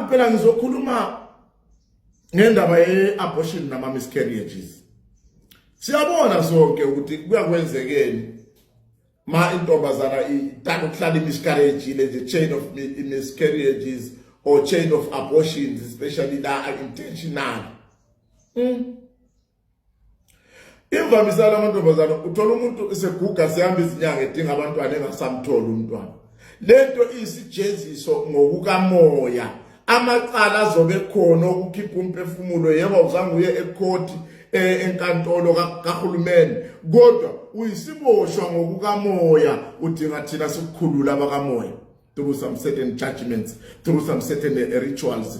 phela ngizokhuluma ngendaba ye-abortion nama-miscarriages siyabona sonke ukuthi kuyakwenzekeni ma intombazana ithanda ukuhlala i-miscarriage le the chain of miscarriages or chain of abortions especially la intentional mm. Imvamisa lamantombazana uthola umuntu eseguga sehamba izinyanga edinga abantwana engasamtholi umntwana. Lento isijeziso ngokukamoya. Amacala azobe khona ukukhipha umphefumulo yebo uzange uye ekhoti eh, enkantolo kahulumeni kodwa uyisiboshwa ngokukamoya udinga thina sikukhulula abakamoya through some certain judgments through some certain eh, rituals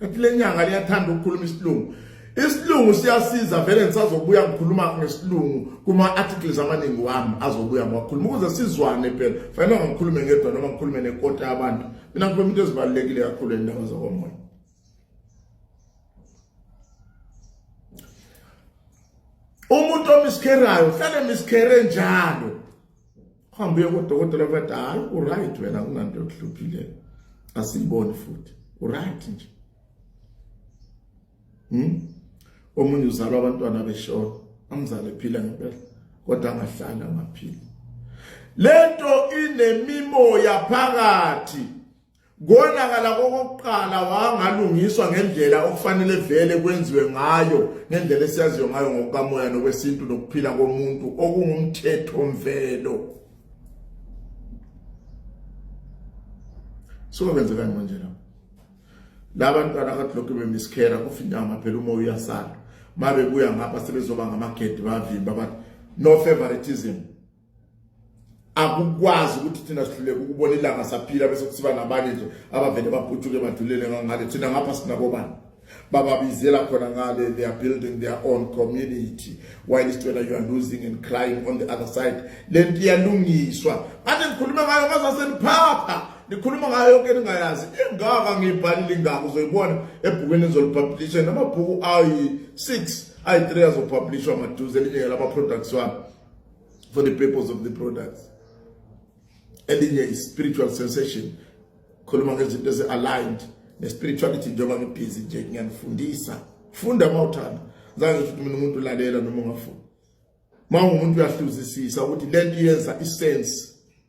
Kanti le nyanga liyathanda ukukhuluma isilungu. Isilungu siyasiza vele ngisazobuya ngikhuluma ngesilungu kuma articles amaningi wami azobuya ngiwakhuluma ukuze sizwane phela. Fanele ngikhulume ngedwa noma ngikhulume nekota yabantu. Mina ngikhuluma into ezibalekile kakhulu endaba zokomoya. Umuntu omiskerayo hlale miskere njalo. uhambe uye kodokotela bathi hayi uright wena kunanto yokuhluphileyo asiyiboni futhi uright nje hmm? omunye uzalwa abantwana beshona amzale phila ngempela kodwa angahlali angaphili lento inemimoya phakathi konakala kokokuqala wangalungiswa ngendlela okufanele vele kwenziwe ngayo ngendlela esiyaziyo ngayo ngokukamoya nokwesintu nokuphila komuntu okungumthetho mvelo suka kwenzekani manje lapho la bantwana akadloke bemiskera kufindama phela umoya uyasala mabebuya ngapha sebezoba ngamagedi bavimba bathi no favoritism akukwazi ukuthi thina sihluleke ukubona ilanga saphila bese kusiba nabanye nje abavele babhujuke badulele ngangale thina ngapha sinakobani bababizela khona ngale they are building their own community while is whether you are losing and crying on the other side lento iyalungiswa manje ngikhuluma ngayo ngazaseniphatha nikhuluma ngayo yonke ningayazi ingaka ngiyibhalile ingaka uzoyibona ebhukweni ezolipublisha namabhuku ayi 6 ayi 3 azopublishwa maduze elinye lama products wami for the purpose of the product elinye i-spiritual sensation khuluma ngezinto ezi-aligned ne-spirituality njengoba ngibhizi nje ngiyanifundisa funda uma uthanda zange ngisho mina umuntu ulalela noma ungafuni uma ungumuntu uyahluzisisa ukuthi le nto yenza isense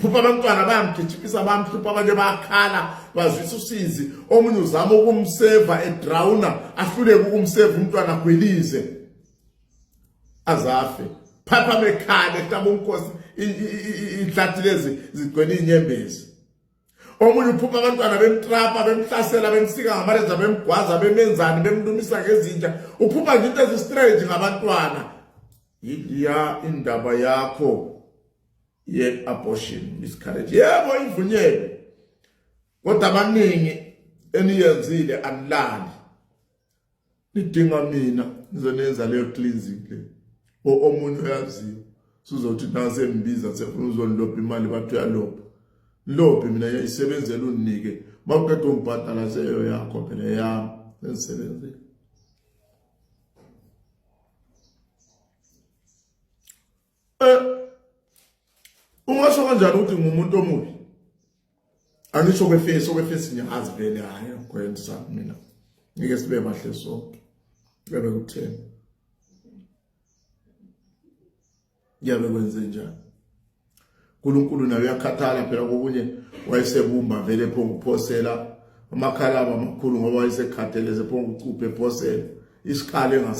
phupha abantwana bayamgijimisa bamhlupha abanye bayakhala bazwisa usizi omunye uzama ukumseva edrawuna ahluleke ukumseva umntwana agwilize azafe phapha mekhale ehlaba umkhosi inhlathi lezi zigcwele inyembezi omunye uphupha abantwana bemtrapa bemhlasela bemsika ngamalenza bemgwaza bemenzani bemlumisa ngezinja uphupha nje into ezistrange ngabantwana yiya indaba yakho ye-abortion miscarriage yebo ivunyelwe kodwa abaningi eniyenzile anilali nidinga mina ngizonenza leyo cleansing le omunye uyaziyo sizothi nase mbiza sefuna uzonilopha imali bathi uyalopha nilophe mina yayisebenzela uninike mawuqeda ungibhadala seyo yakho phela yami sensebenzile Eh ungasho kanjani ukuthi ngumuntu omubi? Angisho kwefesi okwefesi ngiyazi vele hayi ngikwenza mina. Ngike sibe bahle sonke. Ngeke kutheni. Ngeke kwenze njani? uNkulunkulu naye uyakhathala phela kokunye wayesebumba vele pho ukuphosela amakhalaba amakhulu ngoba wayesekhatheleze pho ukucuphe phosela isikhala engas